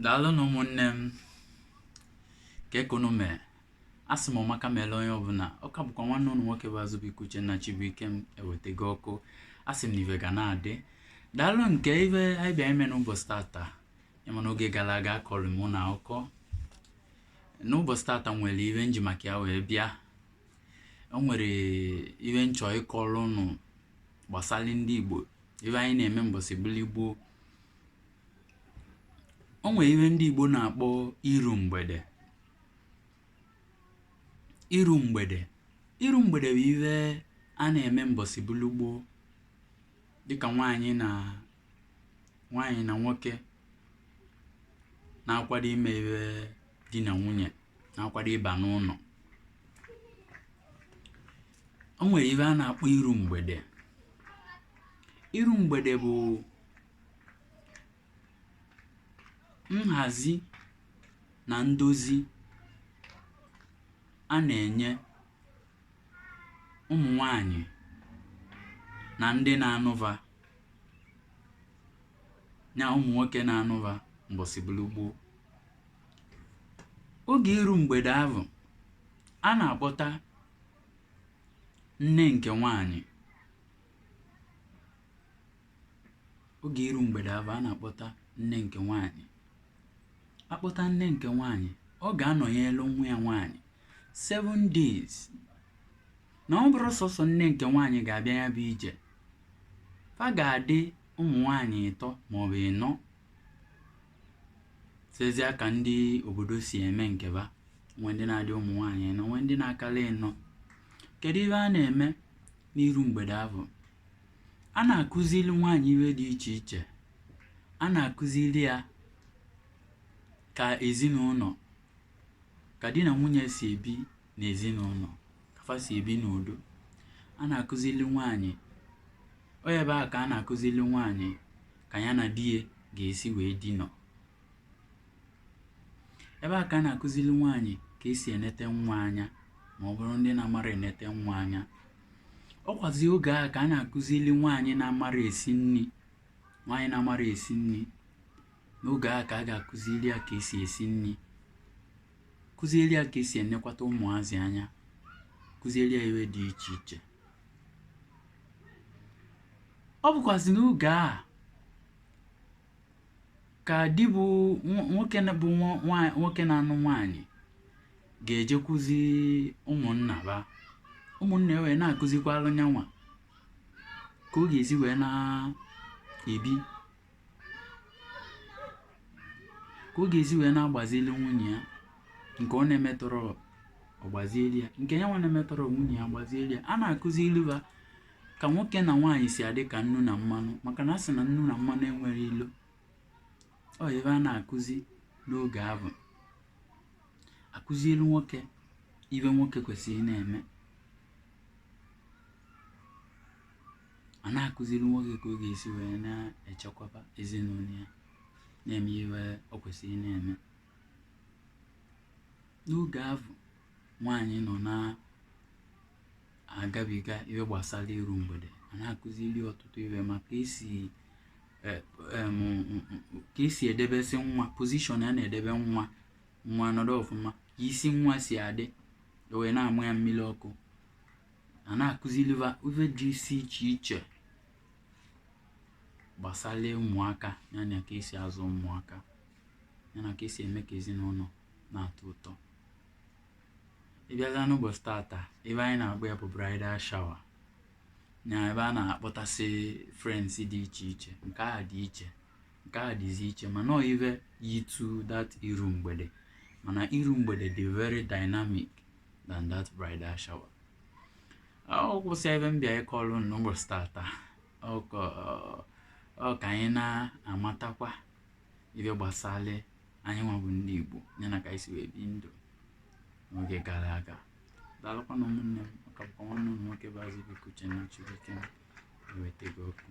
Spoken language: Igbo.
daalụnụ ụmụnne m kee ka ụnụ mee asị m ọmaka meelụ onye ọbụla ọ ka bụkwa nwanne ụnụ nwoke bụ Azụbụike Uchenna Chibuike m ewetego ọkụ asị m na ive ga na-adị daalụ nke ive anyị bịa ime n'ụbọchị tata ịma n'oge gara aga akọrọ m ụnụ akụkọ n'ụbọchị tata nwere ive m ji maka ya wee bịa o nwere ive m chọ ịkọrọ ụnụ gbasara ndị Igbo ive anyị na-eme mbọsị bụlụ gboo o nwere ihe ndị Igbo na-akpọ iru mgbede iru mgbede iru mgbede bụ ihe a na-eme mbọsị bụlụ gboo dịka nwaanyị na nwaanyị na nwoke na-akwado ime ihe di na nwunye na-akwado ịba n'ụnọ o nwere ihe a na-akpọ iru mgbede iru mgbede bụ nhazi na ndozi a na-enye ụmụ nwanyị na ndị na-anụ va na ụmụ nwoke na-anụ va mbọsị bụlụ gboo oge iru mgbede ahụ a na-akpọta nne nke nwanyị oge iru mgbede ahụ a na-akpọta nne nke nwaanyị akpọta nne nke nwaanyị ọ ga-anọnyelu nwa ya nwaanyị 7 days na ọ bụrọ sọsọ nne nke nwaanyị ga-abịa ya bụ ije fa ga-adị ụmụ nwaanyị ịtọ maọbụ ịnọ sezia ka ndị obodo si eme nke va nwee ndị na-adị ụmụ nwaanyị ịnọ nwee ndị na-akalị ịnọ kedu ive a na-eme n'iru mgbede ahụ a na-akụzili nwaanyị ive dị iche iche a na-akụzili ya ka ezinụnọ ka di na nwunye si ebi n'ezinụnọ ka fa si ebi n'udo a na-akụzili nwaanyị ọ ebe a ka a na-akụzili nwaanyị ka ya na di ya ga-esi wee dinọ ebe a ka a na-akụzili nwaanyị ka esi enete nwa anya ma ọ bụrụ ndị na-amarọ enete nwa anya ọ kwazi oge a ka a na-akụzili nwaanyị na-amarọ esi nni nwaanyị na-amarọ esi nni n'oge a ka a ga-akụzili ya ka esi esi nni kụzieli ya ka esi enekwata ụmụazị anya kụzieli ya ive dị iche iche ọ bụkwazi n'oge a ka di bụ nwoke bụ nwoke na-anụ nwaanyị ga-ejekwuzi ụmụnna ba ụmụnna wee na-akụzikwalụ nyanwa ka ọ ga-esi wee na-ebi ka ọ ga-esi wee na-agbazili nwunye ya nke ọ na-emetọrọ ọ gbazieli ya nke ya nwa na-emetọrọ nwunye ya gbazieli ya a na-akụzilụ ba ka nwoke na nwaanyị si adị ka nnu na mmanụ maka na a sị na nnu na mmanụ enwere ilo ọ ive a na-akụzi n'oge ahụ akụzielu nwoke ive nwoke kwesịrị na-eme a na-akụzili nwoke ka ọ ga-esi wee na-echekwaba ezinụlọ ya na-eme ive ọ kwesịrị na-eme n'oge ahụ nwaanyị nọ na-agabiga ive gbasali iru mgbede a na-akụzili ọtụtụ ive maka ka esi edebesị nwa position a na-edebe nwa nwa nọdụ ọfụma ka isi nwa si adị wee na-amụ ya mmili ọkụ a na-akụzili va ive dị isi iche iche gbasali ụmụaka yana ka esi azụ ụmụaka yana ka esi eme ka ezinụnọ na-atọ ụtọ ị bịazịa n'ụbọchị tata ive anyị na-akpọ ya bụ bridal shower na ebe a na-akpọtasị friends dị iche iche nke a dị iche nke a dịzi iche mana ọ ive yitụ that iru mgbede mana iru mgbede dị very dynamic than that bridal shower ọ kwazị ive m bịa ịkọlụ n'ụbọchị tata ọ ka anyị na-amatakwa ive gbasali anyị nwa bụ ndị Igbo ya na ka anyị si wee bi ndụ n'oge gara aga daalụkwanụ ụmụnne m ọ ka bụkwa nwanne ụnụ nwoke bụ Azubuike Uchenna Chibuike ewetego okwu